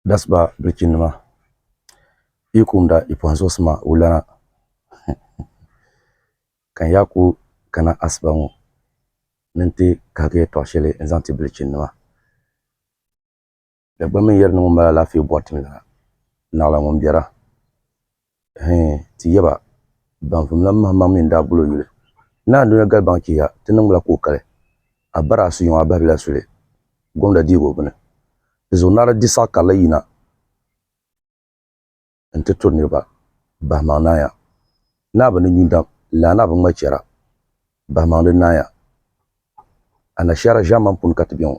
That's ba bilchin nima yi kumda yi pɔhim zuɣusi ma wulana ka n yaa ku kana asiba ŋɔ ni n ti kahigi yɛtɔɣ shɛli n zaŋ ti bilchin nima Dagbamb n yɛri ni ŋun mali alaafee bɔri ti mi la naɣila ŋun biɛra. Hee, ti yab a, baŋsim lan mahim maŋ mi n-daa gul o yuli. Naa Dunia gali baŋ chihiya, ti niŋbila ka o kali. A bara a sunyuŋ a bahibila suli, gomda dihibu bini. Di zuɣu naa di di saɣ karili yina nti turi niriba, bahimaŋ naaya. Naa bi ni nyu dam, laa naa bi ŋma chɛra, bahimaŋ di naaya. Anashaara ʒiɛmani puuni ka ti be ŋɔ.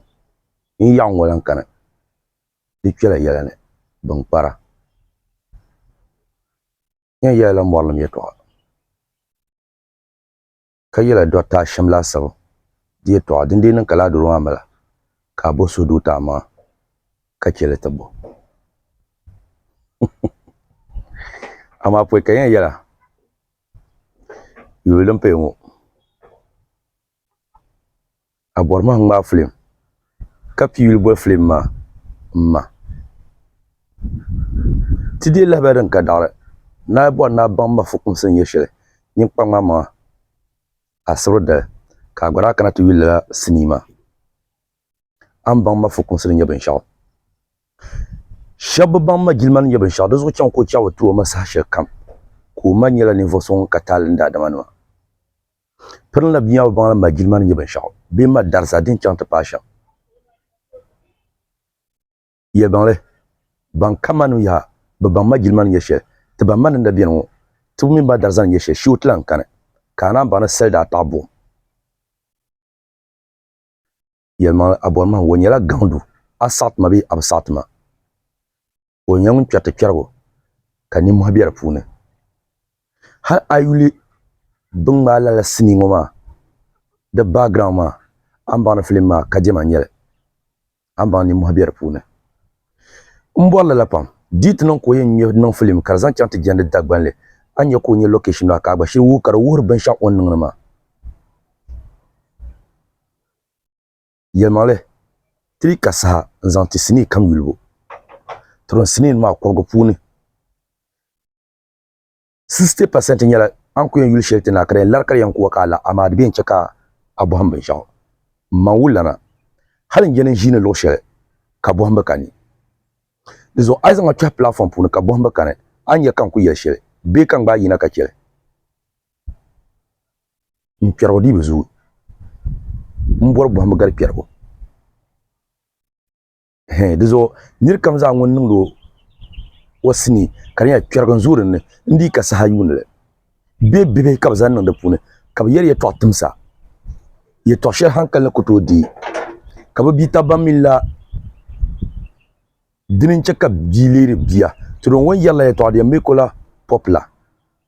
N yaɣiŋ ŋɔ lan kani. di kpɛla yɛla ni bin kpara. N yɛn yɛlila mɔrilim yɛtɔɣa, ka yɛla Dɔkta Ashim laasabu di yɛtɔɣa, din dii niŋ ka laa doro maa mali ka a bo so duu ti a maŋa, ka chɛ li ti bo. Amaa pɔi ka n yɛn yɛla yuli din paya ŋɔ. A bɔri ma n ŋmaai filim ka pii yuli boli filim maa m ma. Ti deei lahabali din ka daɣiri ni a bɔri ni a baŋ ma fukumsi ni nyɛ shɛli nyin kpa ŋmaai maŋa asibri dali ka a gba daa kana ti yuli lala sinii maa. A ni baŋ ma fukumsi ni nyɛ binshɛɣu. Shɛb bi baŋ ma jilima ni nyɛ binshɛɣu di zuɣu chaŋ ka o chaɣ bi ti o ma saha shɛlikam ka o ma nyɛla ninvuɣ so ŋun ka taali ni daadama nima. Piri n la bia maa baŋ ni ma jilima ni nyɛ binshɛɣu bee ma darisa din chaŋ ti paai shɛm. Yɛlibaŋli, Ban ka ma ni yaha, bɛ baŋ ma jilima ni nyɛ shɛli, ti baŋ ma ni n na beni ŋɔ, tibu mini ma darisa ni nyɛ shɛli, shiu ti lan kani, ka a naan baŋ ni sali daa taɣi buɣim. yɛlimaŋli a bɔri mahim o nyɛla gaŋdu a saɣi ti ma bee a bi saɣi ti ma o nyɛla ŋun kpɛri ti kpɛrigu ka ninmɔhi be di puuni hali a yuli bin ŋmaai lala sinii ŋɔ maa di background maa a ni baŋ ni film maa kadɛma n-nyɛ li a ni baŋ ni ninmɔhi be di puuni m bɔri lala pam dii ti niŋ ka o yɛn ŋme niŋ film ka di zaŋ chaŋ ti jɛndi Dagbanli a ni nya ka o nya location maa ka a gba shiri wuhi ka di wuhiri binshɛɣu o ni niŋdi maa. Yɛlimaŋli, Ti yi ka saha n-zaŋ ti sinii kam yulibu, ti niŋ sinii maa kɔbigu puuni 60% nyɛla a ni ku yɛn yuli shɛli ti na ka di yɛn lari ka di yɛn ku wa ka a la, amaa di bi yɛn chɛ ka a bɔhim binshɛɣu. M ma wulilana, hali n yɛli n ʒiini luɣ shɛli ka bɔhim bi kani. Di zuɣu a yi zaŋ ma kpɛhi pilaatfɔm puuni ka bɔhim bi kani, a ni nya ka n ku yɛli shɛli bee ka n gbaai yina ka chɛ li. n kpɛrigu dii bi zooi n bɔri bɔhimbu gari kpɛrigu di zuɣu niri kam zaa ŋun niŋdi o sinii ka di nyɛla kpɛrigu n zooi dinni n dii ka saha yuuni li bee bibihi ka bi zaŋ niŋ di puuni ka bi yɛli yɛltɔɣa timsa yɛltɔɣa shɛli hankali ni ku tooi deei ka bi bia tabi ban mi la dini n chɛ ka bia leeri bia to di yɛn ŋun yɛrila yɛltɔɣa di yɛn mi ko la pɔpi la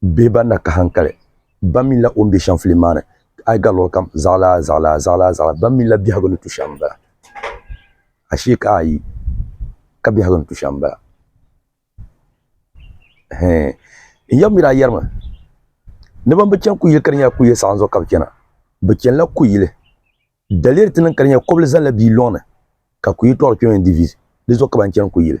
Bɛ ba na ka hankali, ba mi la o ni be shɛm filim maa ni, a yi ga luɣili kam zaɣilaa zaɣilaa zaɣilaa zaɣilaa, ba mi la biɛhigu ni tu shɛm m-bala. Ashee ka a yi ka biɛhigu ni tu shɛm m-bala. Hee, n yaba mi daa yɛrimi ni ban bi chani kuyili ka di nyɛla kuyili saɣim zuɣu ka bɛ chana. Bɛ chanila kuyili daliya di ti niŋ ka di nyɛla kɔbilizani la bia lɔŋ ni ka kuyili tɔɣili kpɛma n-di vizi, di zuɣu ka ban chani kuyili.